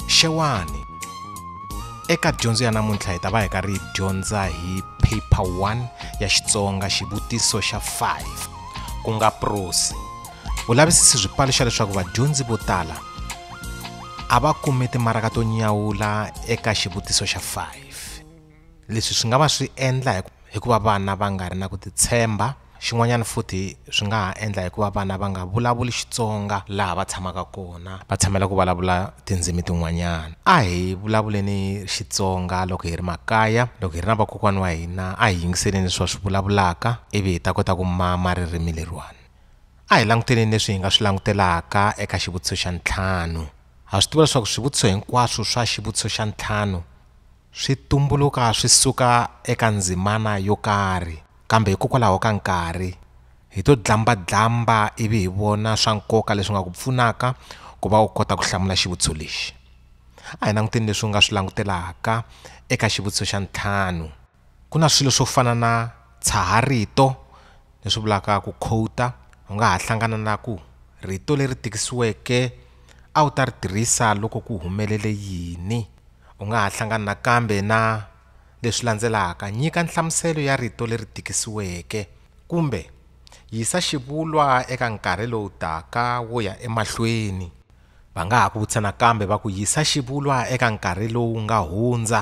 xewani eka dyondzo ya namuntlha hi ta va hi karhi hi dyondza hi paper 1 ya xitsonga xivutiso xa 5 ku nga prosi vulavisisi byi paluxa leswaku vadyondzi vo tala a va kumi timaraka to nyawula eka xivutiso xa 5 Leswi swi nga va swi endla hi hikuva vana va nga ri na ku titshemba xin'wanyana futhi swi nga ha endla hikuva vana va nga vulavuli Xitsonga laha va tshamaka kona va tshamela ku vulavula tindzimi tin'wanyana a hi vulavuleni Xitsonga loko hi ri makaya loko hi ri na vakokwana wa hina a hi yingiseleni leswi va swi vulavulaka ivi hi ta kota ku mama ririmi leriwani a hi languteleni leswi hi nga swi langutelaka eka xivutiso xa ntlhanu ha swi tiva leswaku swivutiso hinkwaswo swa xivutiso xa ntlhanu Swi tumbuluka swi suka eka ndzimana yo karhi, kambe hikokwalaho ka nkarhi, hi to dlamba-dlamba ivi hi vona swa nkoka leswi nga ku pfunaka ku va u kota ku hlamula xivutiso lexi. A hi languteni leswi u nga swi langutelaka eka xivutiso xa ntlhanu. Ku na swilo swo fana na tshaha-rito, leswi vulaka ku khowuta u nga ha hlangana na ku rito leri tikisiweke a wu ta ri tirhisa loko ku humelele yini u nga ha hlangana nakambe na leswi landzelaka nyika nhlamuselo ya rito leri tikisiweke kumbe yisa xivulwa eka nkarhi lowu taka wo ya emahlweni va nga ha ku vutisa nakambe va ku yisa xivulwa eka nkarhi lowu nga hundza.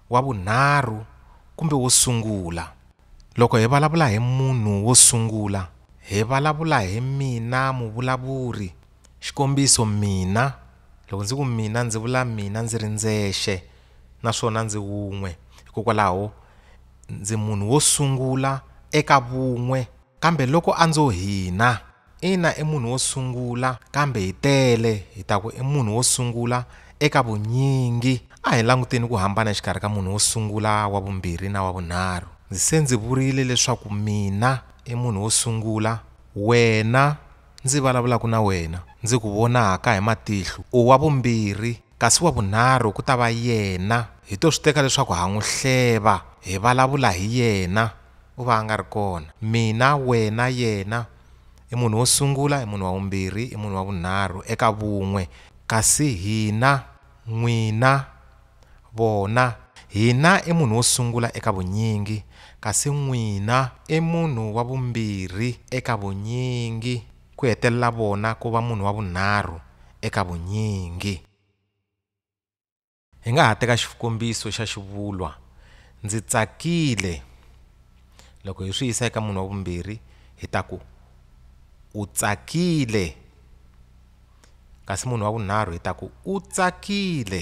wa vunharhu kumbe wo sungula. Loko hi vulavula hi munhu wo sungula, hi vulavula hi mina muvulavuri. Xikombiso, mina. Loko ndzi ku mina ndzi vula mina ndzi ri ndzexe naswona ndzi wun'we. Hikokwalaho ndzi munhu wo sungula eka vun'we. Kambe loko a ndzo hina. Ina i munhu wo sungula kambe hi tele hi ta ku i munhu wo sungula eka vunyingi. A hi languteni ku hambana exikarhi ka munhu wo sungula, wa vumbirhi na wa vunharhu. Ndzi se ndzi vurile leswaku mina i munhu wo sungula, wena, ndzi vulavulaka na wena, ndzi ku vonaka hi matihlo, u wa vumbirhi. Kasi wa vunharhu ku ta va yena, hi to swi teka leswaku ha n'wi hleva, hi valavula hi yena, u va a nga ri kona. Mina, wena, yena, i munhu wo sungula, i munhu wa vumbirhi, i munhu wa vunharhu, eka vun'we. Kasi hina, n'wina, vona. Hina i munhu wo sungula eka vunyingi, kasi n'wina i munhu wa vumbirhi eka vunyingi. ku hetelela vona ku va munhu wa vunharhu eka vunyingi. Hi nga ha teka xikombiso xa xivulwa ndzi tsakile. Loko hi swi yisa eka munhu wa vumbirhi hi ta ku u tsakile kasi munhu wa vunharhu hi ta ku u tsakile.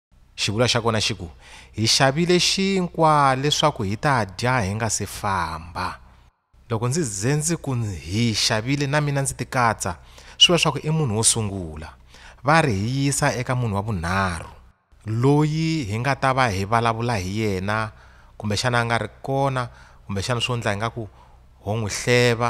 Xivulwa xa kona xi ku, Hi xavile xinkwa leswaku hi ta dya hi nga si famba. Loko ndzi ze ndzi ku hi xavile na mina ndzi tikatsa, swi vula leswaku i munhu wo sungula. Va ri hi yisa eka munhu wa vunharhu, loyi hi nga ta va hi vulavula hi yena, kumbexana a nga ri kona, kumbexana swo endla ingaku ho n'wi hleva.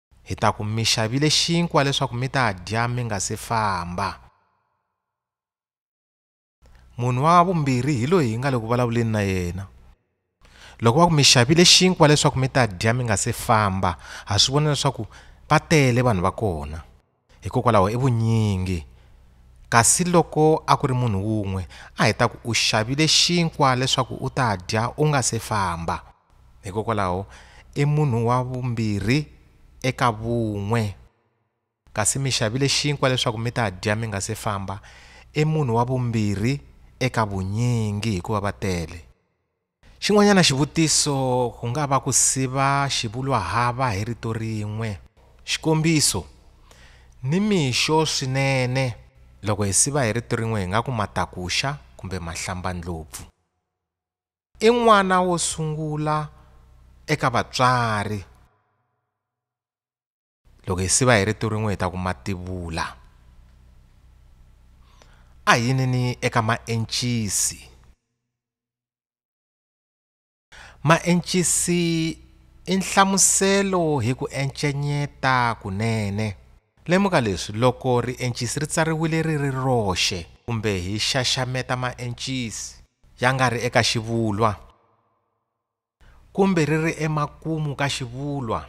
Hi ta ku mi xavile xinkwa leswaku mi ta dya mi nga si famba. Munhu wa vumbirhi hi loyi hi nga le ku vulavuleni na yena. Loko va ku mi xavile xinkwa leswaku mi ta dya mi nga si famba, ha swi vona leswaku va tele vanhu va kona. Hikokwalaho i vunyingi. Kasi loko a ku ri munhu wun'we, a hi ta ku u xavile xinkwa leswaku u ta dya u nga se famba. Hikokwalaho i munhu wa vumbirhi eka vun'we. Kasi mi xavile xinkwa leswaku mi ta dya mi nga se famba, i munhu wa vumbirhi eka vunyingi hikuva va tele. Xin'wanyana xivutiso ku nga va ku siva xivulwahava hi rito rin'we. Xikombiso, Ni mixo swinene. Loko hi siva hi rito rin'we hi nga ku matakuxa kumbe mahlambandlopfu. I n'wana wo sungula eka vatswari. loko hi siva hi rito rin'we hi ta ku mativula a hi yinini eka maencisi maencisi i nhlamuselo hi ku encenyeta kunene lemuka leswi loko riencisi ri tsariwile ri ri roxe kumbe hi xaxameta maencisi ya nga ri eka xivulwa kumbe ri ri emakumu ka xivulwa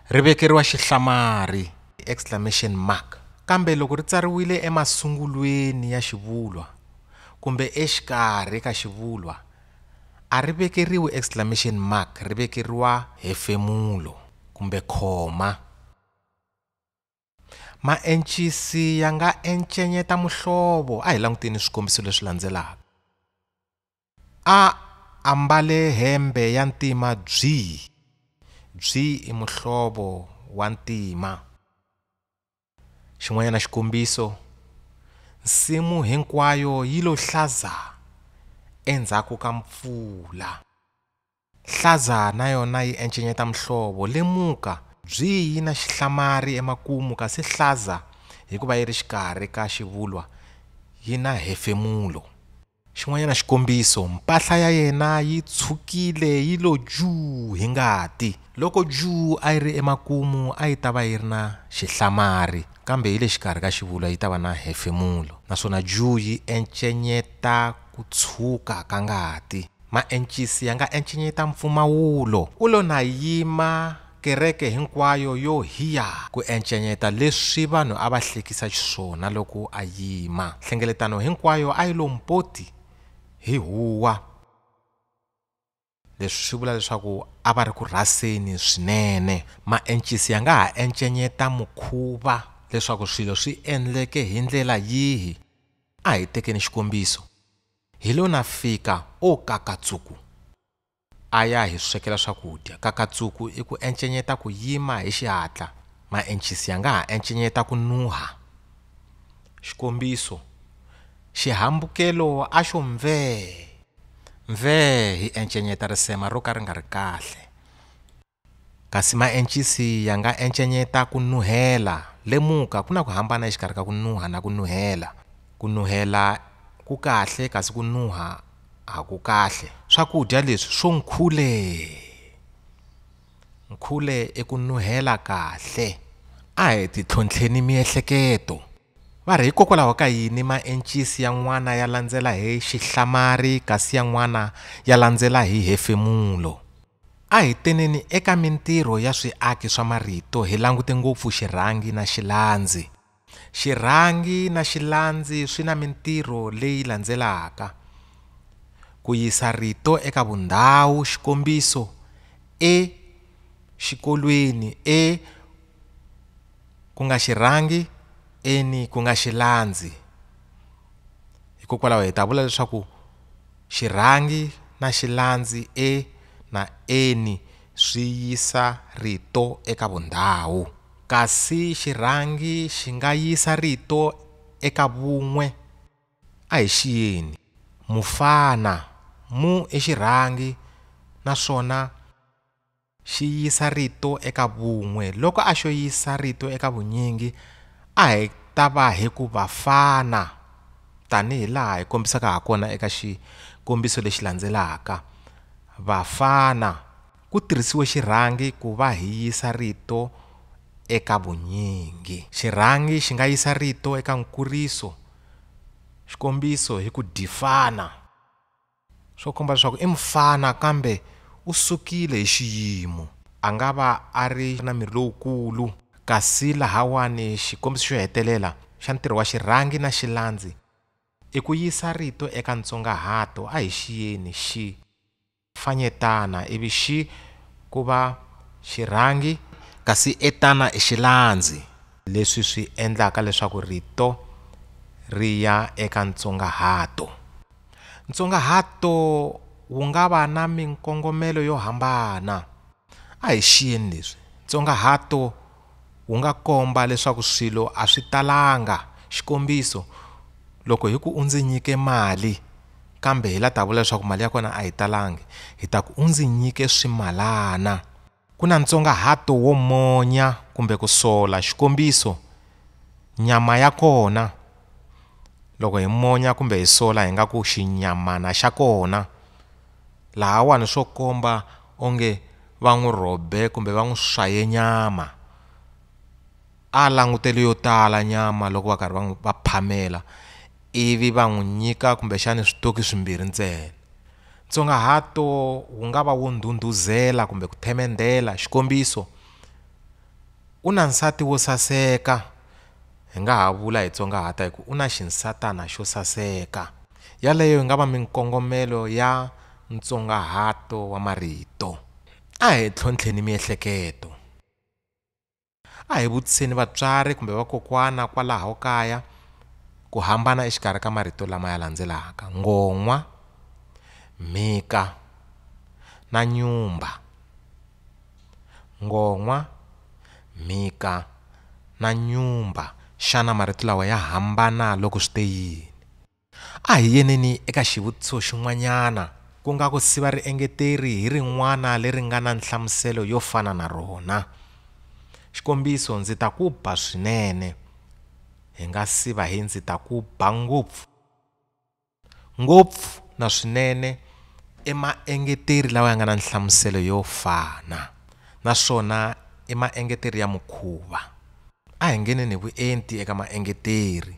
ri vekeriwa xihlamari, exclamation mark, kambe loko ri tsariwile emasungulweni ya xivulwa kumbe exikarhi ka xivulwa a ri vekeriwi exclamation mark ri vekeriwa hefemulo kumbe khoma. Maencisi ya nga encenyeta muhlovo. A hi languteni swikombiso leswi landzelaka. A ambale hembe ya ntima byi. Byi i muhlovo wa ntima. Xin'wanyana xikombiso, nsimu hinkwayo yi lo hlaza endzhaku ka mpfula. Hlaza na yona yi encenyeta muhlovo. Lemuka, byi yi na xihlamari emakumu kasi hlaza hikuva yi ri xikarhi ka xivulwa yi na hefemulo. Xin'wanyana xikombiso, mpahla ya yena yi tshukile yi lo juu hi ngati. Loko juu a yi ri emakumu a yi ta va yi ri na xihlamari kambe yi le xikarhi ka xivulwa yi ta va na hefemulo naswona juu yi encenyeta ku tshuka ka ngati. Maencisi ya nga encenyeta mpfumawulo. Ku lo na yima kereke hinkwayo yo hiya ku encenyeta leswi vanhu a va hlekisa xiswona loko a yima. Nhlengeletano hinkwayo a yi lo mpoti hi huwa. Leswi swi vula leswaku a va ri ku rhaseni swinene. Maencisi ya nga ha encenyeta mukhuva leswaku swilo swi endleke hi ndlela yihi. A hi tekeni xikombiso, Hi lo na fika, o Kakatsuku! A ya hi swekela swakudya. Kakatsuku i ku encenyeta ku yima hi xihatla. Maencisi ya nga ha encenyeta ku nuha. Xikombiso, Xihambukelo a xo mvee! Mvee! hi encenyeta risema ro ka ri nga ri kahle. Kasi maencisi ya nga encenyeta ku nuhela. Lemuka, ku na ku hambana exikarhi ka ku nuha na ku nuhela. Ku nuhela ku kahle kasi ku nuha a ku kahle. Swakudya leswi swo nkhule! Nkhule i ku nuhela kahle. A hi titlhontlheni miehleketo. Va ri, Hikokwalaho ka yini maencisi yan'wana ya landzela hi xihlamari kasi yan'wana ya landzela hi hefemulo? A hi teneni eka mintirho ya swiaki swa marito hi langute ngopfu xirhangi na xilandzi. Xirhangi na xilandzi swi na mintirho leyi landzelaka, Ku yisa rito eka vundhawu, xikombiso, e, xikolweni, e, ku nga xi rhangi eni ku nga xi landzi hikokwalaho hi ta vula leswaku xi rhangi na xi landzi e na eni swi yisa rito eka vundhawu kasi xi rhangi xi nga yisa rito eka vun'we a hi xiyeni mufana mu i xi rhangi naswona Xi yisa rito eka vun'we. Loko a xo yisa rito eka vunyingi, a hi ta va hi ku vafana, tanihi laha hi kombisaka ha kona eka xikombiso lexi landzelaka. Vafana, Ku tirhisiwe xirhangi ku va hi yisa rito eka vunyingi. Xirhangi xi nga yisa rito eka nkuriso, xikombiso, hi ku difana. Swo komba leswaku i mufana kambe u sukile hi xiyimo. A nga va a ri na miri lowukulu. Kasi lahawani xikombiso xo hetelela xa ntirho wa xirhangi na xilandzi i ku yisa rito eka ntsongahato a hi xiyeni xi fanyetana ivi xi ku va xirhangi, kasi etana i xilandzi, leswi swi endlaka leswaku rito ri ya eka ntsongahato. Ntsongahato wu nga va na minkongomelo yo hambana. A hi xiyeni leswi, ntsongahato wu nga komba leswaku swilo a swi talanga, xikombiso, loko hi ku u ndzi nyike mali kambe hi la ta vula leswaku mali ya kona a yi talangi hi ta ku u ndzi nyike swimalana. Ku na ntsongahato wo monya kumbe ku sola, xikombiso, nyama ya kona. Loko hi monya kumbe hi sola hi nga ku xinyamana xa kona. Lahawani swo komba onge va n'wi rhobe kumbe va n'wi swaye nyama. A langutele yo tala nyama loko va karhi va n'wi va phamela. ivi va n'wi nyika kumbexana switoki swimbirhi ntsena. Ntsongahato wu nga va wo ndhundhuzela kumbe ku themendhela. Xikombiso, U na nsati wo saseka. Hi nga ha vula hi tsongahata hi ku, U na xinsatana xo saseka. Yaleyo yi nga va minkongomelo ya ntsongahato wa marito. A hi tlhontlheni miehleketo. A hi vutiseni vatswari kumbe vakokwana kwalaho kaya ku hambana exikarhi ka marito lama ya landzelaka, ngon'wa, mhika na nyumba. Ngon'wa, mhika na nyumba. Xana marito lawa ya hambana loko swi te yini? A hi yeneni eka xivutiso xin'wanyana, ku nga ku siva riengeteri hi rin'wana leri nga na nhlamuselo yo fana na rona. Xikombiso, ndzi ta ku ba swinene. Hi nga siva hi ndzi ta ku ba ngopfu. Ngopfu na swinene i maengeteri lawa ya nga na nhlamuselo yo fana naswona i maengeteri ya mukhuva. A hi ngeneni hi vuenti eka maengeteri.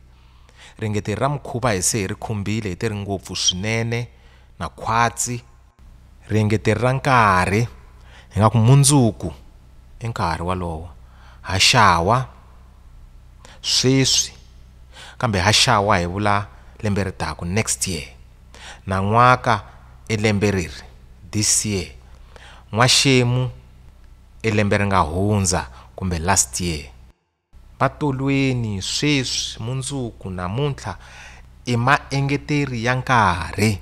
Ringeteri ra mukhuva hi se hi ri khumbile hi te ri ngopfu swinene na khwatsi. Riengeteri ra nkarhi, hi nga ku mundzuku i nkarhi walowo, haxawa, sweswi, kambe haxawa hi vula lembe ri taka, next year, nan'waka i lembe reri, this year, n'waxemu, e lembe ri nga hundza kumbe last year. Va tolweni sweswi mundzuku namuntlha i maengeteri ya nkarhi.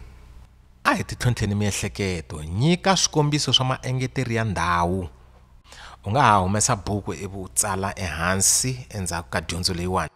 A hi titlhontlheni miehleketo, nyika swikombiso swa maengeteri ya ndhawu. U nga ha humesa buku ivi u tsala ehansi endzhaku ka dyondzo leyiwani.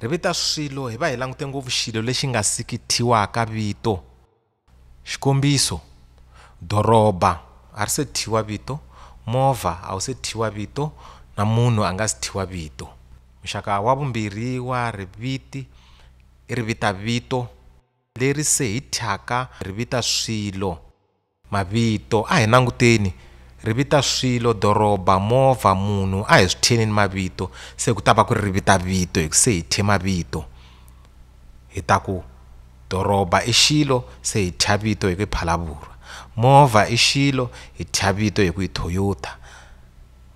Ri vita swilo hi va hi langute ngopfu xilo lexi nga siki thyiwaka vito. Xikombiso, doroba a ri se thyiwa vito, movha a wu se thyiwa vito na munhu a nga si thyiwa vito. Muxaka wa vumbirhi wa riviti i rivitavito leri se hi thyaka ri vita swilo. Mavito, A hi nanguteni, ri vita swilo, doroba, movha, munhu, a hi swi theni ni mavito, se ku ta va ku ri ri vita vito hi ku se hi thye mavito. Hi ta ku, doroba i xilo, se hi thya vito hi ku i Phalavurwa. Movha i xilo, hi thya vito hi ku i Toyota.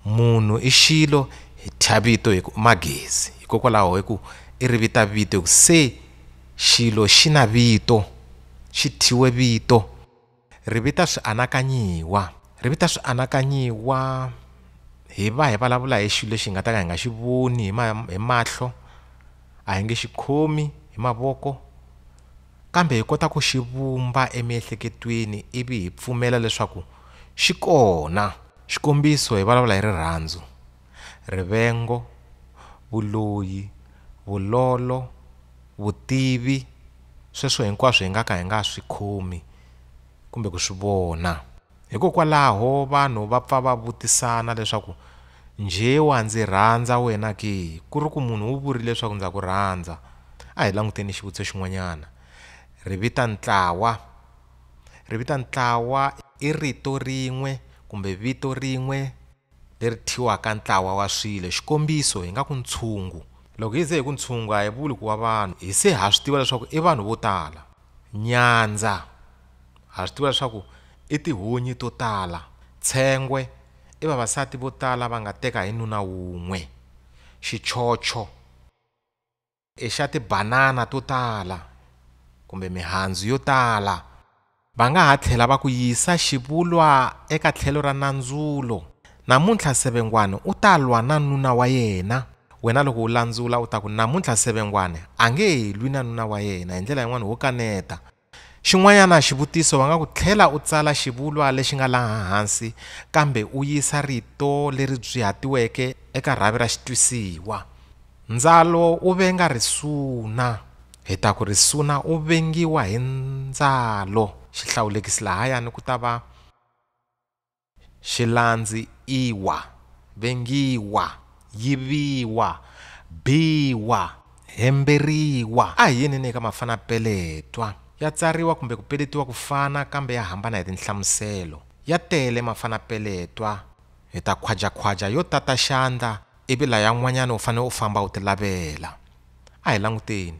Munhu i xilo, hi thya vito hi ku i Magezi. Hikokwalaho hi ku i ri vita vito hi ku se xilo xi na vito. xi thyiwe vito. Ri vita swianakanyiwa. Ri vita swianakanyiwa hi va hi vulavula hi xilo lexi hi nga ta ka hi nga xi voni hi hi mahlo, a hi nge xi khomi hi mavoko kambe hi kota ku xi vumba emiehleketweni ivi hi pfumela leswaku xi kona. Xikombiso hi vulavula hi rirhandzu. rivengo, vuloyi, vulolo, vutivi, sweswo hinkwaswo hi nga ka hi nga swi khomi kumbe ku swi vona. Hikokwalaho vanhu va pfa va vutisana leswaku, Njhe wa ndzi rhandza wena ke? Ku ri ku munhu u vurile leswaku ndza ku rhandza. A hi languteni xivutiso xin'wanyana. Ri vita ntlawa. Ri vita ntlawa i rito rin'we kumbe vito rin'we. leri thyiwaka ntlawa wa swilo, xikombiso, hi nga ku ntshungu. Loko hi ze hi ku ntshungu a hi vuli ku wa vanhu, hi se ha swi tiva leswaku i vanhu vo tala. Nyandza, ha swi tiva leswaku i tihunyi to tala. Tshengwe, i vavasati vo tala va nga teka hi nuna wun'we. Xichocho. I xa tibanana to tala kumbe mihandzu yo tala. Va nga ha tlhela va ku yisa xivulwa eka tlhelo ra nandzulo. Namuntlha Sevengwani u ta lwa na nuna wa yena. Wena loko u landzula u ta ku, Namuntlha Sevengwani a nge he lwi na nuna wa yena hi ndlela yin'wana wo kaneta. Xin'wanyana xivutiso va nga ku tlhela u tsala xivulwa lexi nga laha hansi kambe u yisa rito leri byiatiweke eka rhavi ra xitwisiwa. Ndzalo u venga risuna. Hi ta ku risuna u vengiwa hi ndzalo, xihlawulekisi lahayani ku ta va. Xilandzi iwa, vengiwa, yiviwa, biwa, hemberiwa. A hi yinini eka mafanapeletwa. Ya tsariwa kumbe ku peletiwa ku fana kambe ya hambana hi tinhlamuselo. Ya tele mafanapeletwa. Hi ta khwajakhwaja yo tata xandla ivi layan'wanyana u fanele u famba u ti lavela. A hi languteni.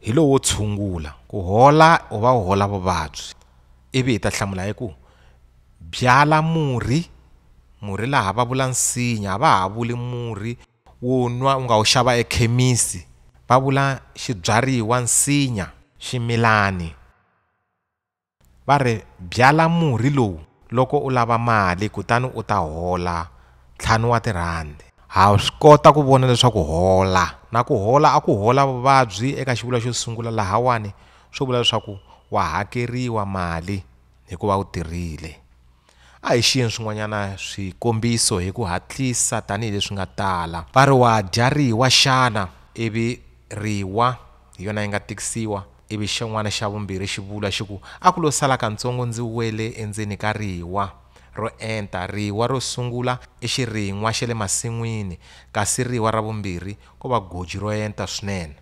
hi lowo tshungula ku hola u va u hola vuvabyi ivi hi ta hlamula hi ku byala murhi murhi laha va vula nsinya a va ha vuli murhi wo nwa u nga wu xava ekhemisi va vula xibyariwa nsinya ximilani. Va ri, Byala murhi lowu loko u lava mali kutani u ta hola ntlhanu wa tirhandi. Ha swi kota ku vona leswaku hola na ku hola a ku hola vuvabyi eka xivulwa xo sungula lahawani swo vula leswaku wa hakeriwa mali hikuva u tirhile. A hi xiyeni swin'wanyana swikombiso hi ku hatlisa tanihi leswi nga tala. Va ri wa dya riwa xana, ivi riwa hi yona yi nga tikisiwa, ivi xin'wana xa vumbirhi xi vula xi ku, A ku lo sala kantsongo ndzi wele endzeni ka riwa ro enta. Riwa ro sungula i xirin'wa xa le masin'wini, kasi riwa ra vumbirhi ko va goji ro enta swinene.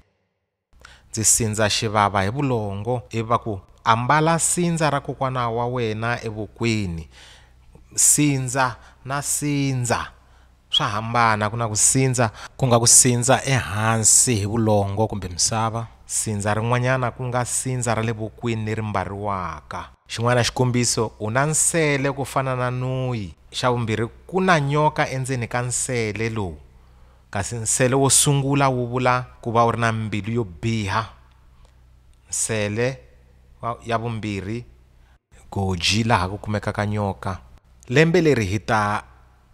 Ndzi sindza xivava hi vulongo ivi va ku, Ambala sindza ra kokwana wa wena evokweni. Sindza na sindza swa hambana, ku na ku sindza ku nga ku sindza ehansi hi vulongo kumbe misava, sindza rin'wanyana ku nga sindza ra le vokweni leri mbariwaka. Xin'wana xikombiso, U na nsele ku fana na nuyi. Xa vumbirhi, Ku na nyoka endzeni ka nsele lowu. Kasi nsele wo sungula wu vula ku va u ri na mbilu yo biha. Nsele wa, ya vumbirhi. Goji laha ku kumekaka nyoka. Lembe leri hi ta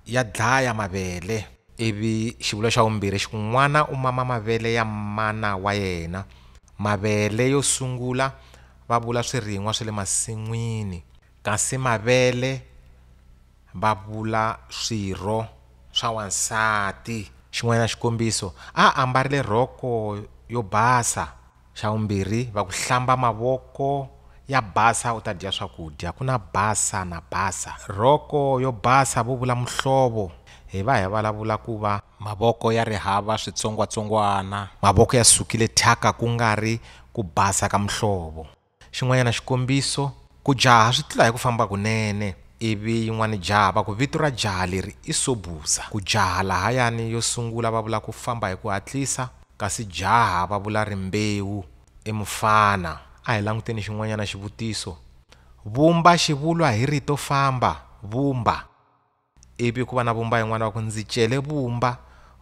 ya dlaya mavele. Ivi xivulwa xa vumbirhi xi ku, N'wana u mama mavele ya mana wa yena. Mavele yo sungula va vula swirin'wa swa le masin'wini. Kasi mavele. Va vula swirho swa wansati. Xin'wanyana xikombiso, A a ambarile rhoko yo basa. Xa vumbirhi, Va ku hlamba mavoko ya basa u ta dya swakudya. Ku na basa na basa. Rhoko yo basa vo vula muhlovo. Hi va hi vulavula ku va. Mavoko ya ri hava switsongwatsongwana. Mavoko ya sukile thyaka ku nga ri ku basa ka muhlovo. Xin'wanyana xikombiso, ku jaha swi tlula hi ku famba kunene, ivi yin'wana jaha va ku vito ra jaha leri i Sobhuza. Ku jaha lahayani yo sungula va vula ku famba hi ku hatlisa, kasi jaha va vula rimbewu i mufana. A hi languteni xin'wanyana xivutiso, Vumba xivulwa hi rito famba. Vumba. Ivi ku va na vumba yin'wana va ku ndzi cele vumba.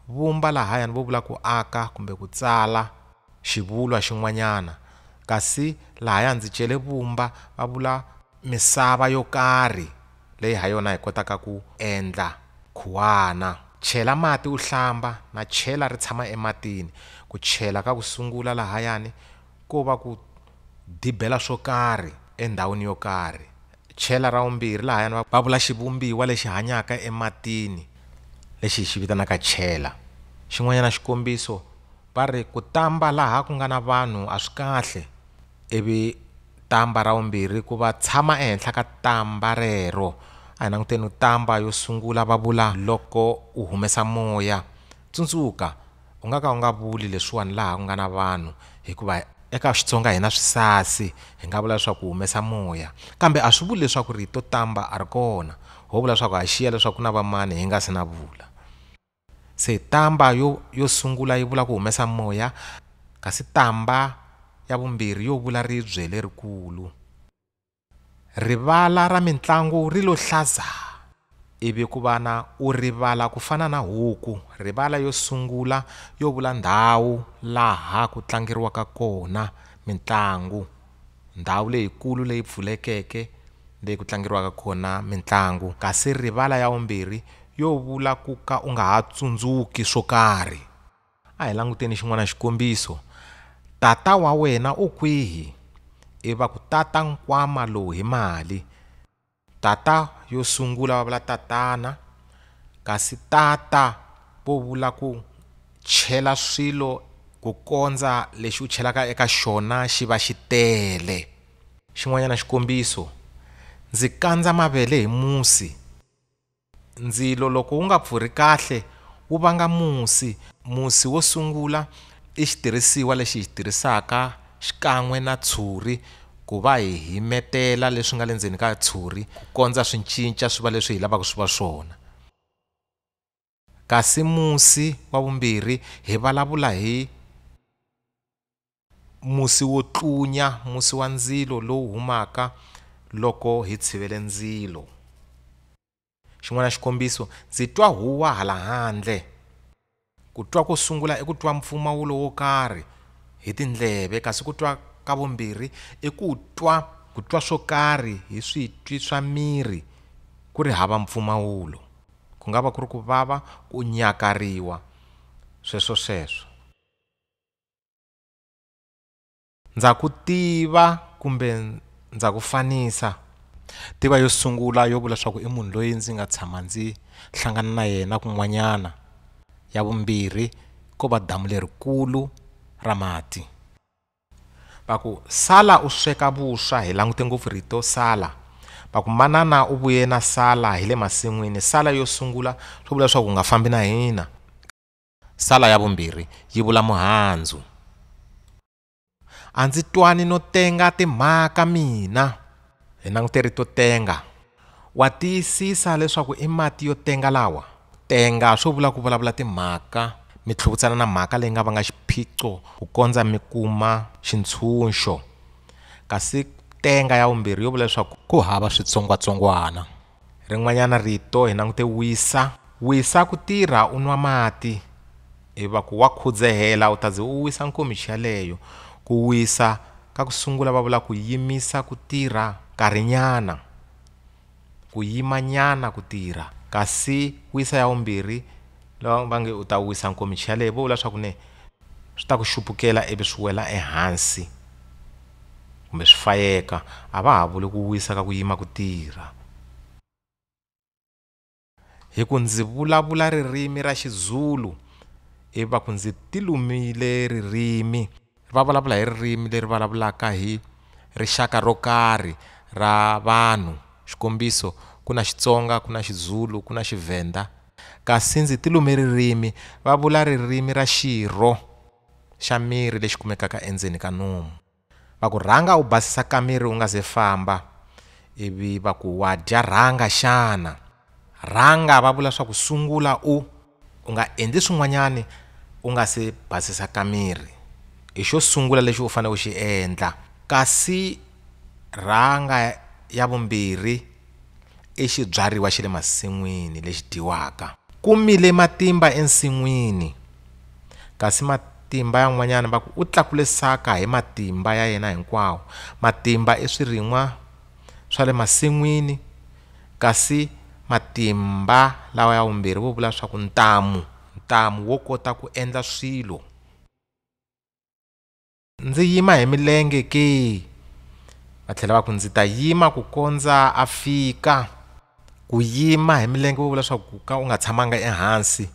Vumba lahayani vo vula ku aka kumbe ku tsala xivulwa xin'wanyana. Kasi lahaya ndzi cele vumba va vula misava yo karhi leyi ha yona hi kotaka ku endla khuwana. Chela mati u hlamba na chela ri tshama ematini. Ku chela ka ku sungula lahayani ko va ku dibela swo karhi endhawini yo karhi. Chela ra vumbirhi lahayani va va vula xivumbiwa lexi hanyaka ematini lexi hi xi vitanaka chela. Xin'wanyana xikombiso va ri, ku tamba laha ku nga na vanhu a swi kahle, ivi tamba ra vumbirhi ku va tshama ehenhla ka tamba rero. A hi languteni tamba yo sungula va vula, loko u humesa moya, tsundzuka. U nga ka u nga vuli leswiwani laha ku nga na vanhu hikuva eka Xitsonga hi na swisasi hi nga vula leswaku ku humesa moya kambe a swi vuli leswaku rito tamba a ri kona ho vula leswaku ha xiya leswaku ku na vamani hi nga si na vula se tamba yo yo sungula yi vula ku humesa moya kasi tamba ya vumbirhi yo vula ribye lerikulu. Rivala ra mintlangu ri lo hlazaa, ivi ku va na u rivala ku fana na huku, rivala yo sungula yo vula ndhawu laha ku tlangeriwaka kona mintlangu, ndhawu leyikulu leyi pfulekeke leyi ku tlangeriwaka kona mintlangu, kasi rivala ya vumbirhi yo vula ku ka u nga ha tsundzuki swo karhi. A hi languteni xin'wana xikombiso. Tata wa wena u kwihi? I va ku tata nkwama lowu hi mali. Tata yo sungula va vula tatana kasi tata vo vula ku chela swilo ku kondza lexi u chelaka eka xona xi va xi tele. Xin'wanyana xikombiso, ndzi kandza mavele hi musi. Ndzilo loko wu nga pfurhi kahle wu vanga musi. Musi wo sungula i xitirhisiwa lexi hi xi tirhisaka xikan'we na tshuri ku va hi himetela leswi nga le ndzeni ka tshuri ku kondza swi cinca swi va leswi hi lavaka swi va swona. Kasi musi wa vumbirhi hi vulavula hi. Musi wo tlunya, musi wa ndzilo lowu humaka loko hi tshivele ndzilo. Xin'wana xikombiso, ndzi twa huwa hala handle. Ku twa ko sungula i ku twa mpfumawulo wo karhi hi tindleve, kasi ku twa ka vumbirhi i ku twa ku twa swo karhi hi switwi swa miri ku ri hava mpfumawulo. Ku nga va ku ri ku vava, ku nyakariwa, sweswo-sweswo. Ndza ku tiva kumbe ndza ku fanisa tiva yo sungula yo vula leswaku i munhu loyi ndzi nga tshama ndzi hlangana na yena kun'wanyana ya vumbirhi ko va damu lerikulu ra mati va ku sala u sweka vuswa hi langute ngopfu rito sala va ku manana u vuye na sala hi le masin'wini sala yo sungula swi vula leswaku u nga fambi na hina. Sala ya vumbirhi yi vula muhandzu. A ndzi twani no tenga timhaka mina. Hi langute rito tenga. Wa tiyisisa leswaku i mati yo tenga lawa? Tenga swo vula ku vulavula timhaka, mi tlhuvutsana na mhaka leyi nga vanga xiphiqo ku kondza mi kuma xintshunxo. Kasi tenga ya vumbirhi yo vula leswaku ku hava switsongwatsongwana. Rin'wanyana rito hi langute wisa. Wisa ku tirha u nwa mati ivi va ku wa khudzehela u ta ze u wisa nkomichi yaleyo. Ku wisa ka ku sungula va vula ku yimisa ku tirha nkarhinyana, ku yimanyana ku tirha. Kasi wisa ya vumbirhi va nge u ta wisa nkomichi yaleyo vo vula leswaku ne. Swi ta ku xupukela ivi swi wela ehansi kumbe swi fayeka, a va ha vuli ku wisa ka ku yima ku tirha. Hi ku ndzi vulavula ririmi ra Xizulu ivi va ku ndzi ti lumile ririmi. Va vulavula hi ririmi leri vulavulaka hi rixaka ro karhi ra vanhu, xikombiso, ku na Xitsonga, ku na Xizulu, ku na Xivhenda. Kasi ndzi ti lume ririmi, va vula ririmi ra xirho xa miri lexi kumekaka endzeni ka nomu. Va ku, Rhanga u basisa kamiri u nga se famba. Ivi va ku, Wa dya rhanga xana? Rhanga va vula swa ku sungula u u nga endli swin'wanyani u nga se basisa kamiri. I xo sungula lexi u fanele u xi endla. Kasi rhanga ya vumbirhi. i xibyariwa xa le masin'wini lexi dyiwaka ku mile matimba ensin'wini kasi matimba yan'wanyana va ku u tlakule saka hi matimba ya yena hinkwawo matimba i swirin'wa swa le masin'wini kasi matimba lawa ya vumbirhi vo vula swaku ntamu ntamu wo kota ku endla swilo. Ndzi yima hi milenge ke? Va tlhela va ku ndzi ta yima ku kondza a fika. Ku yima hi milenge vo vula swa ku ka u nga tshamanga ehansi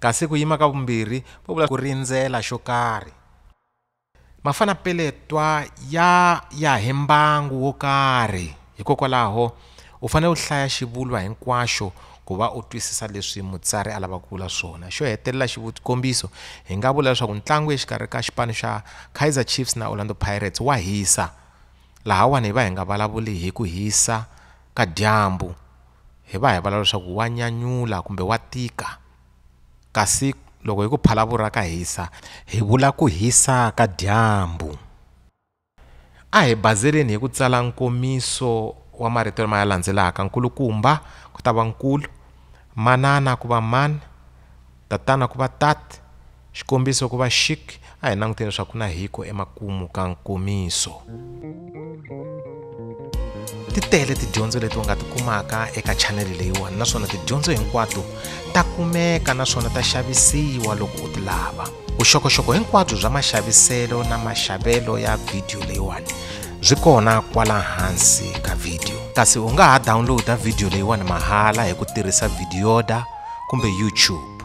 kasi ku yima ka vumbirhi vo vula ku rindzela xo karhi. Mafanapeletwa ya ya hi mbangu wo karhi. Hikokwalaho, u fanele u hlaya xivulwa hinkwaxo ku va u twisisa leswi mutsari a lavaka ku vula swona. Xo hetelela, xikombiso, hi nga vula leswaku ntlangu exikarhi ka xipano xa Kaizer Chiefs na Orlando Pirates wa hisa. Lahawani hi va hi nga vulavuli hi ku hisa ka dyambu, hi va hi vulavula leswaku wa nyanyula kumbe wa tika. Kasi loko hi ku, Phalaphala ka hisa, hi vula ku hisa ka dyambu. A hi bazeleni hi ku tsala nkomiso wa marito lama ya landzelaka nkulukumba ku ta va nkulu manana ku va man tatana ku va tat xikombiso ku va xik a hi languteni leswaku ku na hiko emakumu ka nkomiso. ti tele tidyondzo leti u nga ti kumaka eka chaneli leyiwani naswona tidyondzo hinkwato ta kumeka naswona ta xavisiwa loko u ti lava vuxokoxoko hinkwabyo bya maxaviselo na maxavelo ya vhidiyo leyiwani byi kona kwala hansi ka vhidiyo kasi u nga ha dawunloda vhidiyo leyiwani mahala hi ku tirhisa vhidiyoda kumbe youtube